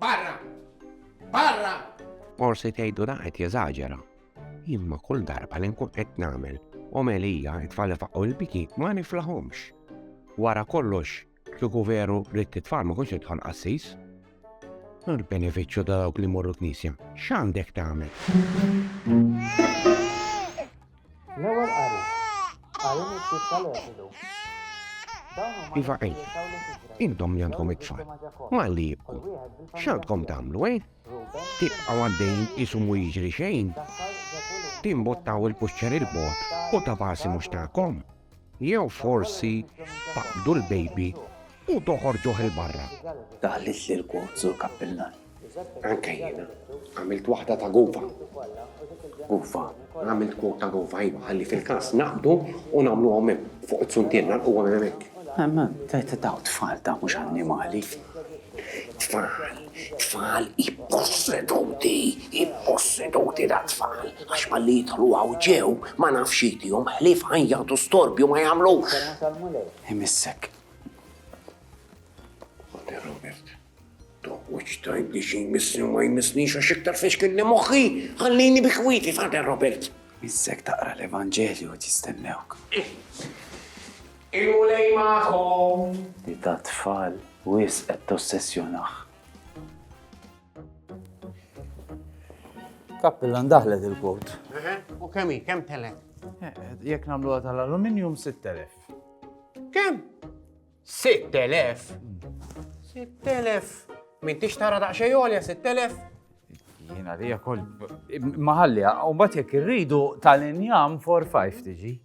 Barra! Barra! Forsi tgħidu da qed jeżaġera. Imma kull darba li nkun qed nagħmel omelija it-tfal faqqu l-biki ma niflaħhomx. Wara kollox, kieku veru li t-tfal ma kunx idħol qassis. Nur benefiċċju ta' dawk li morru knisja, x'għandek tagħmel? L-ewwel qari. Qari miktub tal-Eżodu. Iva ej, intom li għandkom it-tfal, malli jibku, x'għandkom tagħmlu, eh? Tibqa' għaddejn isu mu jiġri xejn? Timbottaw il-puċċer il-bot u ta' basi mhux tagħkom? Jew forsi taqbdu l-baby u toħorġuh 'il barra. Daħlitli l-quote Sur Kappillan. Anke jiena. Għamilt waħda ta' Gova. Gova? Għamilt quote ta' Gova, iva, ħalli fil-każ naqbdu u nagħmluhom hemm, fuq it-suntien, nagħlquhom hemmhekk. Imma dawn tfal dawn mhux annimali. Tfal! Tfal ipposseduti, ipposseduti da tfal, għax malli jidħlu hawn ġew, ma naf x'jidihom, ħlief ħajjat u storbju ma jagħmlux. Imissek. Ħoder Robert, toqgħodx tgħidli xi jmissni u ma jmissnix għax iktar fixkilni moħħi, ħallini bi ħwiti, Fader Robert. Missek taqra l-Evanġelju qed jistennewk. Il-Mulej magħkom. Li tat-tfal wisq qed tossessjonah. Kappillan daħlet il-kowt. Eħe, u kemm hi? Kemm telgħet? Jekk nagħmluha tal-aluminium 6000. Kemm? 6000? 6000. M'intix tara daqsxejn għolja 6000? Jiena li jakoll maħalliha, u mbagħad jekk irridu tal-injam 4-5 tiġi.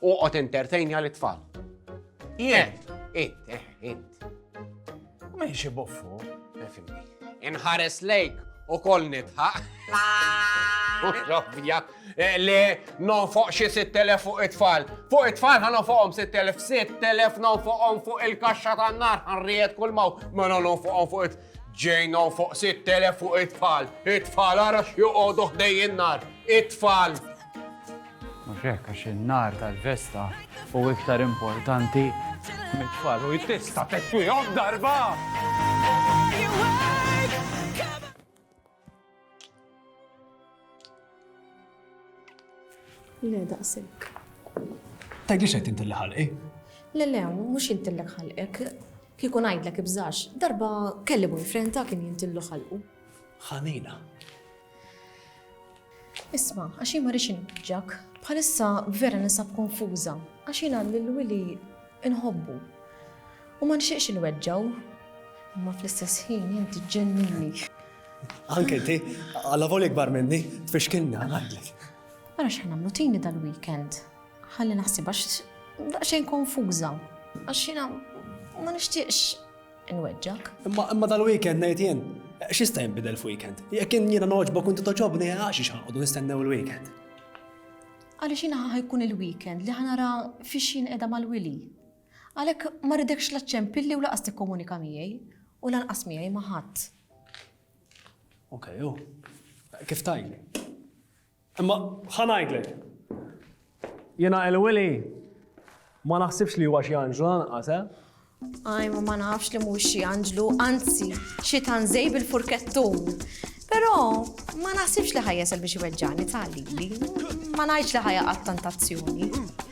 U qod entertainja li tfal. Jent. Int, eh, int. U minn xi buffu, fimni. Inħares lejk u koll nitħaq. Rabbija, eh, le non fuq xi 6,000 fuq it-tfal. Fuq it-tfal ħan fuqhom 6,000, 6,000 non fuqhom fuq il-kaxxa tan-nar ħanrijet kull maw, ma non fuqhom fuq it Ġejna fuq 6,000 fuq it-tfal. It-tfal għara xjuqodu ħdej in-nar. It-tfal. Mhux hekk għax in-nar tal-festa u iktar importanti mit-tfal u tista' tekwihom darba! Le, daqsik. Tgħidli xejn inti li ħalqi? Le, le, mhux inti li ħalqek. Kieku ngħidlek ibżax, darba kelli boyfriend ta' kien jintillu ħalqu. Ħanina. Isma, għax jien ma rix inġak, bħalissa vera nisab konfuża, għax jien għalli l-wili inħobbu. U ma nxieqx il-weġġaw, imma fl-istess ħin jinti ġennini. Anke ti, għalla voli kbar minni, tfixkilni għadlek. Għara xħan għamlu tini dal-weekend, ħalli naħsib għax daqxejn konfuża, għax jina ma nishtiqx Inweġġak. Imma imma dal-weekend ngħid jien, x'jista' jinbidel f'weekend? Jekk kien jiena noġbok inti toġobni għax xi ħanqodu nistennew il-weekend. Għaliex jiena ħajkun il-weekend li ħanara fiex jien qiegħda mal-wili. Għalhekk ma ridekx la ċempilli u laqas tikkomunika miegħi u lanqas miegħi ma' ħadd. Okej, u kif tajli? Imma ħa ngħidlek. Jiena il-Wili ma naħsibx li huwa xi anġlu lanqas, eh? Aj, ma ma nafx li mhux xi anġlu, anzi, xi tanżej bil-furkettun. Però ma naħsibx li ħajjesel biex iweġġani tali. Ma ngħidx li ħajja għat-tantazzjoni.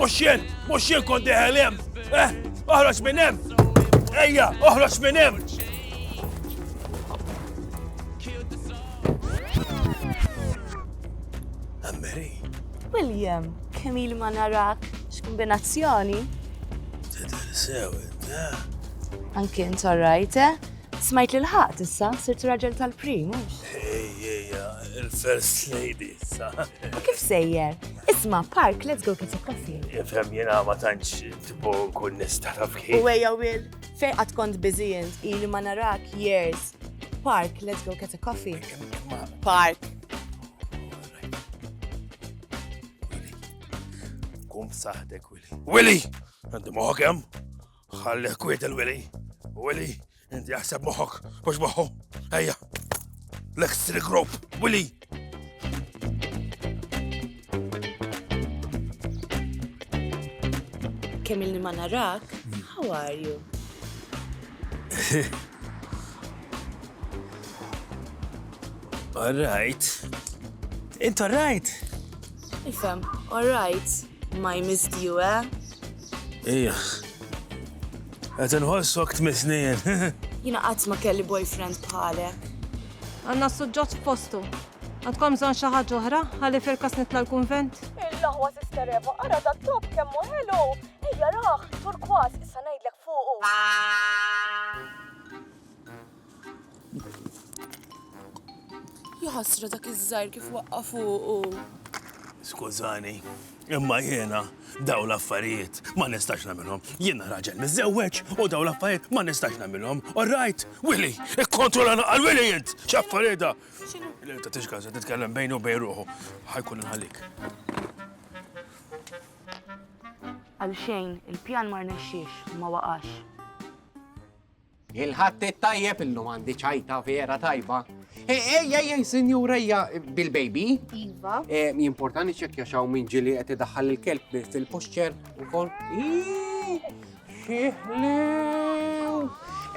Moxjen, moxjen kon deħelem. Eh, oħroġ minn hemm. Ejja, oħroġ minn hemm. Ammeri. William, kemm il ma narak, x'kombinazzjoni? Tidher sew, eh? Anki int orrajt, eh? Smajt li l-ħaqt issa, sirt raġel tal-prim, mhux? Ejjeja, il-first lady. U kif sejjer? Isma, park, let's go get a coffee. Ifhem jena ma tantx tipo nkun nista' taf kif. U ejja Will, fej qatt kont biżijent, ili ma narak years. Park, let's go get a coffee. Park. Kum saħdek, Willy. Willy! Għandi moħok hemm? Ħalli kwiet il-Willy. Willy, Inti jaħseb moħok, mux moħu, ejja. Lex Trick Rope, Willy! Kemm il ma narak, how are you? All right. It's all right. Ifem, all right. My missed you, eh? Ejjaħ. Qed inħossok tmisnien. Jiena qatt ma kelli boyfriend bħalek. Għandna s-suġġett f'postu. Għandkom bżonn xi ħaġa oħra ħalli firkas nitla' l-kunvent? Il-laħwa Sister Eva, ara da top kemm hu ħelu. Ejja raħ, turkwas, issa ngħidlek fuqu. Jaħasra dak iż-żgħir kif waqqa' fuqu. Skużani, imma jiena daw l-affarijiet ma nistax nagħmilhom. Jiena raġel miżewweġ u daw l-affarijiet ma nistax nagħmilhom. All right? Willy, ikkontrolla naqal Willy int! X'affarijiet da? X'inhu? Le ta' tixka se titkellem bejnu bejn ruħu. Ħajkun inħallik. Għal xejn, il-pjan ma rnexxiex, ma waqax. Il-Ħadd it-tajjeb illum għandi ċajta vera tajba. E, ej, ej, ej, sinjur, ejja, bil-baby. Iva. E, Jimportani ċekja xaw minn ġili qed idaħħal il-kelb fil-puxċer ukoll. Ii, Xieħlew.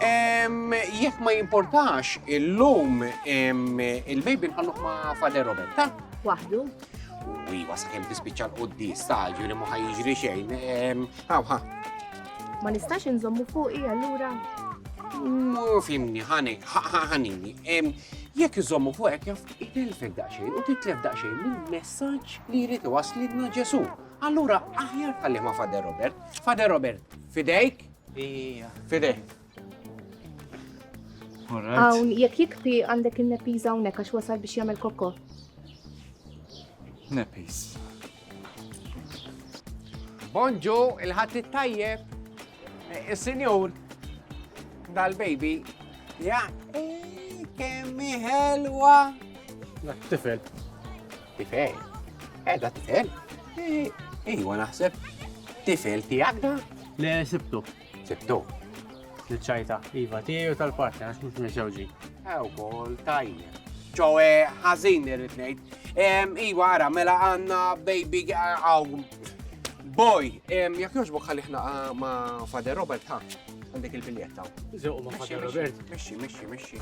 Em, Jekk ma jimportax illum em, il-baby nħalluh ma' Father Robert, ta? Waħdu. Ui, wasakem tispiċċa l-qoddis, ta' ġuri ma ħajġri xejn. Em, Haw, ha. Ma nistax inżommu fuqi allura? Mur fimni, ħanek, ħanini. Jekk iżommu fuqek jaf itelfek daqsxejn u titlef daqsxejn minn messaġġ li jrid iwaslidna Ġesu. Allura aħjar tallima Fader Robert. Fader Robert, fidejk? Ija. Fidejk. Hawn jekk jikpi għandek in-nepiż hawnhekk għax wasal biex jagħmel kokko. Nepiż. Bonġu, il-ħadd it-tajjeb. Eh, Is-sinjur dal-baby. Ja, eh, kemm ħelwa. Dak tifel. Tifel. Edha eh, tifel. Ejwa naħseb. Tifel tiegħek da? Le sibtu. Tibdu. Niċċajta, iva tiegħi u tal-partner għax mhux miżewġi. Ew kol tajjeb. Ġowe ħażin irrid ngħid. Iwa ara mela għandna baby għaw boy. Jekk jogħġbok ħalli ħna ah, ma' Fader Robert ħa għandek il-biljetta. Żewq ma' Fader Robert. Mexxi, mexxi, mexxi.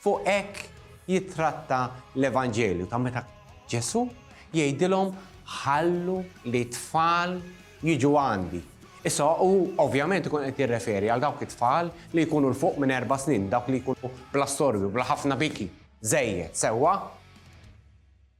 Fuq hekk jittratta l-Evanġelju ta' meta Ġesù jgħidilhom ħallu li t-tfal jiġu għandi. Issa hu ovvjament ikun qed jirreferi għal dawk it-tfal li jkunu 'l fuq minn erba' snin, dawk li jkunu bla storbju, bla ħafna biki, żejjed, sewwa?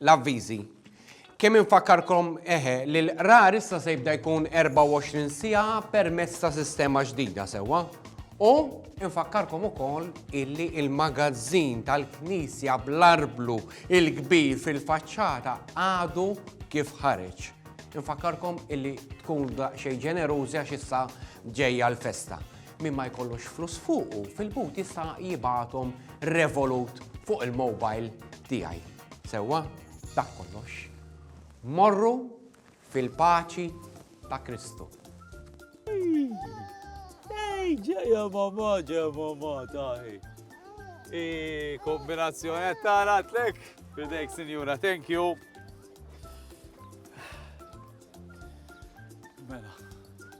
L-avviżi. Kemm infakkarkom, eħe, li l-qrar issa se jibda jkun 24 siegħa permezz ta' sistema ġdida, sewwa? U infakkarkom ukoll illi il-magazzin tal-knisja bl-arblu il-kbir fil-faċċata għadu kif ħareġ. Infakkarkom illi tkunu daqsxejn ġenerużi għax issa ġejja l-festa. Min ma jkollux flus fuqu fil-but jista' jibgħathom Revolut fuq il-mobile tiegħi. Sewwa, dak kollox. Morru fil-paċi ta' Kristu. Ej, ġeja mamma, ġeja mamma, taħi. I kombinazzjoni tara tlek, fidejk sinjura, thank you. Mela,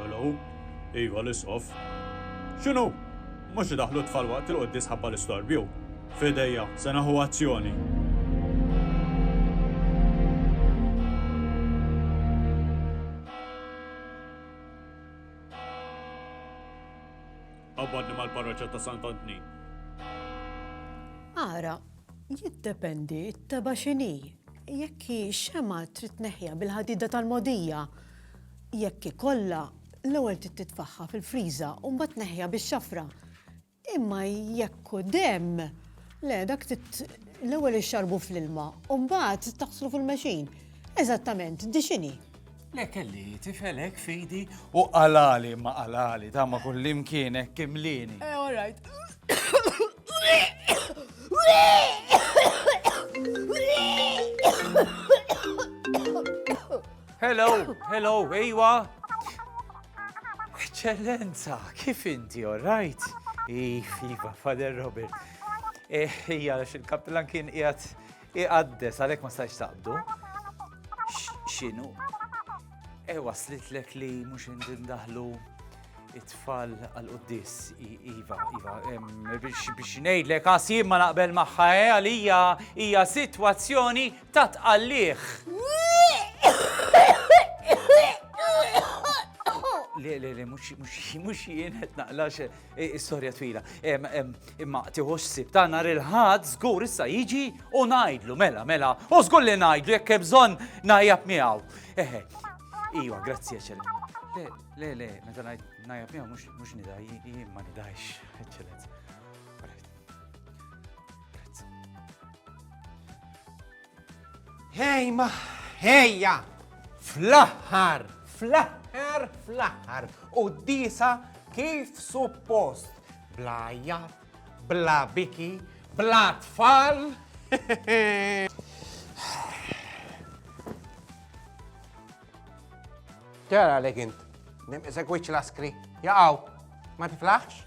Hello? Iva l-isqof. X'inhu? Mhux idaħħlu t-tfal waqt il-quddies ħabba l-istorbju. F'idejja, se naħu azzjoni. Qabadni mal-parroċċa ta' Sant'Antni. Ara, jiddependi t-teba x'inhi. Jekk hi xema trid neħja bil-ħadida tal-mogħdija. Jekk ikollha, l-ewwel trid titfaħħa fil-friża u mbagħad neħja bix-xafra. Imma jekk hu demm, le dak trid l-ewwel ixxarbu fl-ilma u mbagħad taħslu fil-mexin. Eżattament, di x'inhi? Le kelli tifel hekk fidi u qalali ma qalali ta' ma kullimkien hekk kimlieni. Eh, all right. Hello, hello, ejwa. Eċċellenza, kif inti, all right? Iva, Father Robert. Eh, ija, il-kaptilan kien qiegħed Iqaddes, għalhekk ma stajx taqbdu. X'inhu? E waslitlek li mhux indindaħlu it-tfal għal-qoddis, Iva, Iva, biex nejdlek għasi ma naqbel maħħa eh, għalija hija situazzjoni ta' tqalliħ. Le, le, le, mux jien qed naqlax Is-sorja twila. Imma tiħux sib ta' nar il-ħad żgur issa jiġi u ngħidlu mela mela. U żgur li ngħidlu jekk hemm bżonn najjab miegħu. Eħe. Iwa, grazzi eċċellent. Le, le, le, meta ngħid najjab miegħu mhux nidaj, jien ma nidajx, eċċellent. Hej ma ħejja! Fl-aħħar, fl-aħħar, fl-aħħar, u d-disa kif suppost, bla jat, bla biki, bla tfal. Tara li kint, nimqisek wiċ laskri, jaqaw, ma tiflaħx?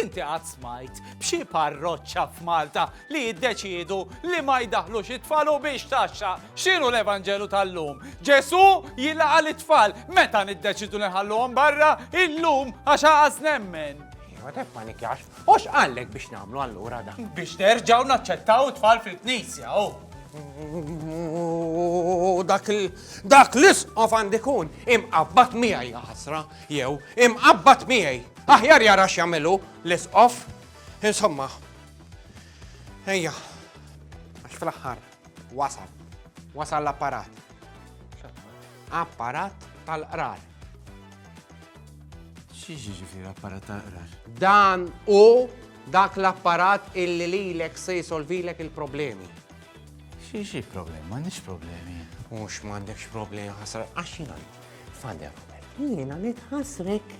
Inti qatt smajt b'xi parroċċa f'Malta li jiddeċiedu li ma jdaħħlux it-tfal u biex taxxa? X'inhu l-Evanġelu tal-lum? Ġesù jilqa' lit-tfal. Meta niddeċiedu li nħalluhom barra? Illum għax għaż nemmen. Ma tef ma nikjax, u x'qallek biex nagħmlu allura da? Biex nerġgħu naċċettaw it-tfal fil-knisja, u. U dak il- dak l-isqof għandikun imqabbat miegħi ja ħasra, jew imqabbat miegħi. Aħjar jara x'jagħmel hu l-Isqof. Insomma, ejja, għax fl-aħħar wasal, wasal l-apparat. Apparat tal-qrar. Xiex ġifir apparat tal-qrar? Dan u dak l-apparat illi lilek se jisolvilek il-problemi. Xiex problema, nix problemi. Mux mandekx problemi, ħasra, għaxin għandu. Father Fred, jiena nitħassrek.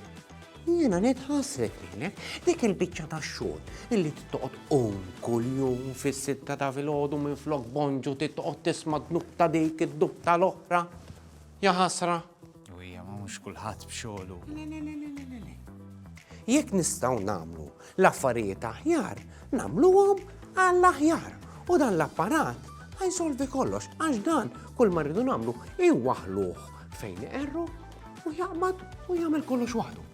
Jiena nitħassrek lilek. Dik il-biċċa ta' xogħol illi titqgħod qum kuljum fis-sitta ta' filgħodu minn flok bonġu titqgħod tisma' dnub ta' dik id-dub tal-oħra. Ja ħasra. U hija ma mhux kulħadd b'xogħlu. Jekk nistgħu nagħmlu L-affarijiet aħjar nagħmluhom għall-aħjar u dan l-apparat ħa jsolvi kollox għax dan kull ma rridu nagħmlu iwaħluh fejn iqerru u jaqbad u jagħmel kollox waħdu.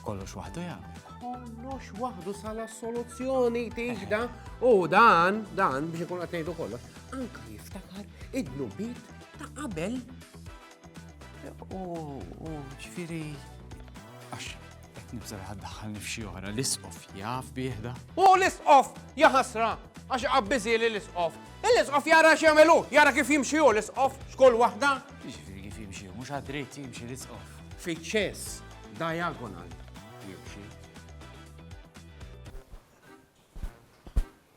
Kollox waħdu jagħmel kollox waħdu sala soluzzjoni tiġda u dan, dan biex ikun għatejdu kollox, anka jiftakar id-nubit ta' qabel U ġifieri għax qed nibża' li ħaddaħħalni f'xi oħra l-isqof jaf bieħda. U l-isqof jaħasra għax qabbiżi li l-isqof. L-isqof jara x'jagħmelu, jara kif jimxi hu l-isqof x'kull waħda. Ġifieri kif jimxi, mhux għad-dritt jimxi l-isqof. Fiċ-ċess diagonal jimxi.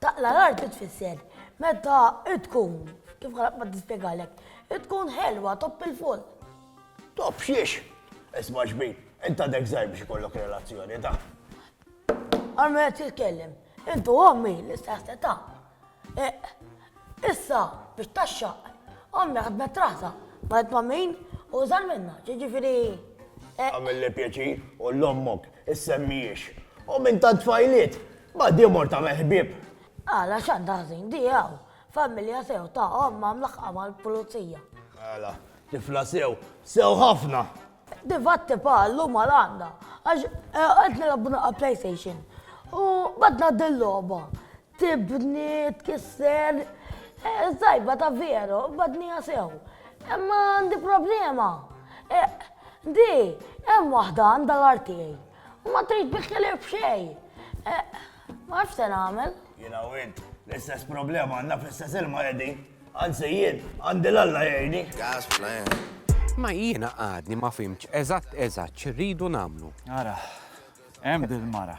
Taqla' l-art xi tfisser? Meta tkun, kif qalet ma tispjegalek, tkun ħelwa, topp il-full. Topp xiex? Isma' xbin, int għadek żgħir biex ikollok relazzjoni ta'. Armi qed jitkellem. Int u ommi l-istess età. Issa biex tgħaxxaq. Ommi ħadmet raħsa, marret ma' min hu żgħar minnha, jiġifieri. Agħmilli pjaċir, u 'l ommok issemmihiex. Omm int għad tfajliet! Ma di mort tagħmel ħbieb. Għala x'għandha ħżin di hawn? Familja sew ta' ommha mlaħħqa mal-pulizija. Għala, tifla sew, sew ħafna. Di fatti pa llum għal għandha għax qed nilgħabu naqra playstation u badna dil-logħba. Tibni, tkisser, sajba ta' veru, badniha sew. Imma għandi problema. Di hemm waħda għandha l-art tiegħi. Ma tgħid bi ħlief b'xejn. Ma nafx se nagħmel. Jiena u int, l-istess problema għandna fl-istess ilma qegħdin. Anzi jien, għandi l-Alla jgħinni. Ma jiena għadni ma fimċ eżatt eżatt xirridu namlu. Ara, hemm dil-mara.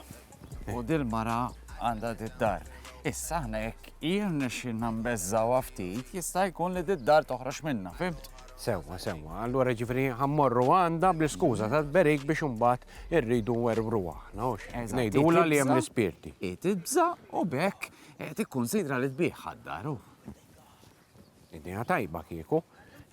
U dil-mara għandha did-dar. Issa ħna jekk jirna xinna mbezzawa ftit, jista' jkun li did-dar toħroġ minna, fimt? Sewwa, sewwa, allura jiġifieri ħa mmorru għandha bl-iskuża tat-tberik biex imbagħad irridu nwerwruha aħna, hux? Ngħidulha li hemm l-ispirti. Hi tibża' u b'hekk tikkunsidra li tbigħ ħad-dar, hu. Idea tajba kieku.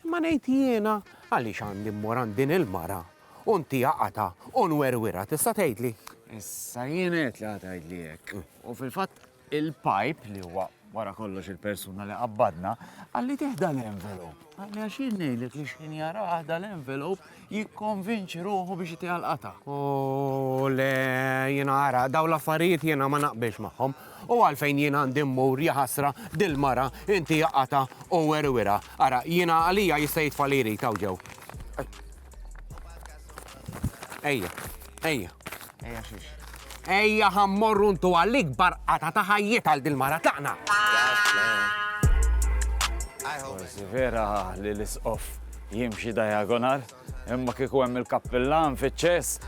Imma ngħid jiena għaliex għandi mmur għand din il-mara u ntiha qatgħa u nwerwirha, tista' tgħidli? Issa jien għedt li ħa tgħidli hekk. U fil-fatt Il-Pipe, li huwa wara kollox il-persuna li qabbadna, qalli tieħ dal-envelop. Qalli għax jien ngħidlek li xħin jarah dal-envelop jikkonvinċi ruħu biex itiha l-qata. U le jien ara, daw l-affarijiet jiena ma naqbilx magħhom. U għalfejn jien għandi mmur jaħasra dil-mara inti jaqata u werwira. Ara, jiena għalija jista' jitfa' li jrid hawn ġew. Ejja, ejja. Ejja xiex. Ejja ħammorru ntu għall-ikbar qata ta' ħajjiet għal dil-mara taqna. Forsi vera li l-isqof jimxi diagonal, imma kiku hemm il-kappillan fiċ-ċess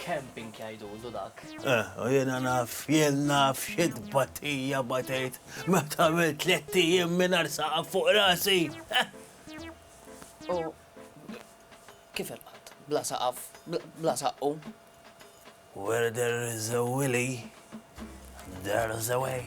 Camping jgħidulu dak. Eh, u jena naf, jena naf xid batija batejt, meta għamil tletti jim minar saqaf fuq rasi. Eh. U kif il-qat? Bla saqaf, bla saqqu? Where there is a willy, there is a way.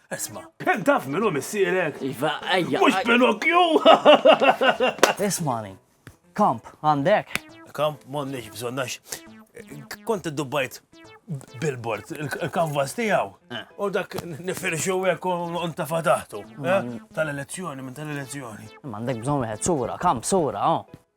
Isma. Ken taf minn hu missierek? Iva, ejja. Mhux Pinokju! Ismani. Kamp, għandek? Kamp m'għandniex bżonn għax kont iddubbajt billboard, il-kanvas tiegħu. Eh. U dak nifirxu hekk u ntafa taħtu. Eh? Tal-elezzjoni, minn tal-elezzjoni. M'għandek bżonn wieħed sura, kamp sura, oh.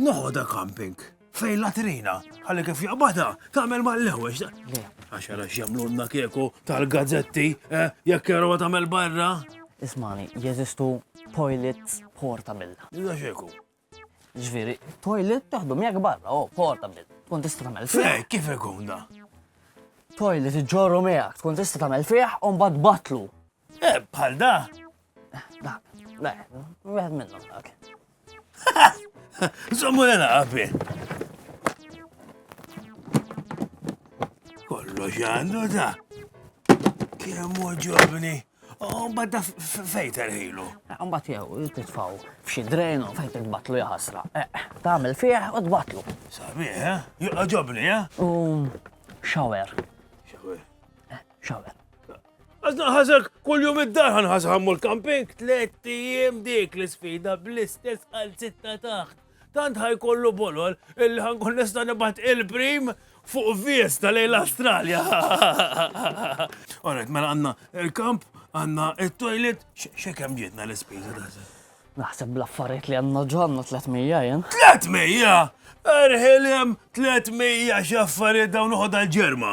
Noħodha camping fej latrina, għalli kif jaqbada, tagħmel mal-lewex. Għax għara x'jagħmlulna kieku tal-gazzetti, eh, jekk jarawha tagħmel barra. Ismani, jeżistu toilets portable. Iżda xeku. Ġviri, toilet taħdu miegħek barra, oh, portable. Tkun tista' tagħmel fih. Fej, kif ikun da? Toilet iġġorru miegħek, tkun tista' tagħmel fih u mbagħad batlu. Eh, bħal da, Dak, le, wieħed minnhom dak. Żommu lena qabi. Kollox għandu ta' kemm ġobni. U badda fejn terħilu. Eh, Mbagħad jew titfaw f'xi drejn u fejn titbatlu jaħasra. Eh, eh, tagħmel fih u tbatlu. Sabiħ, ha? Joqgħodobni, ha? U xawer. Xawer. Xawer. Għazna ħazek kull jum id-dar għan ħazħammu l-camping, tlet jiem dik l-sfida bl-istess għal sitta taħt. Tant ħajkollu bolol il ħankun nista' nibat il-prim fuq vies ta' lejn l-Australja. Alright, mela għanna il-kamp, għanna il-toilet, xekem ġitna l-ispiża da' Naħseb bl-affarijiet li għanna ġonna 300 jen. 300! Erħilem 300 xaffariet dawn uħod għal-ġerma.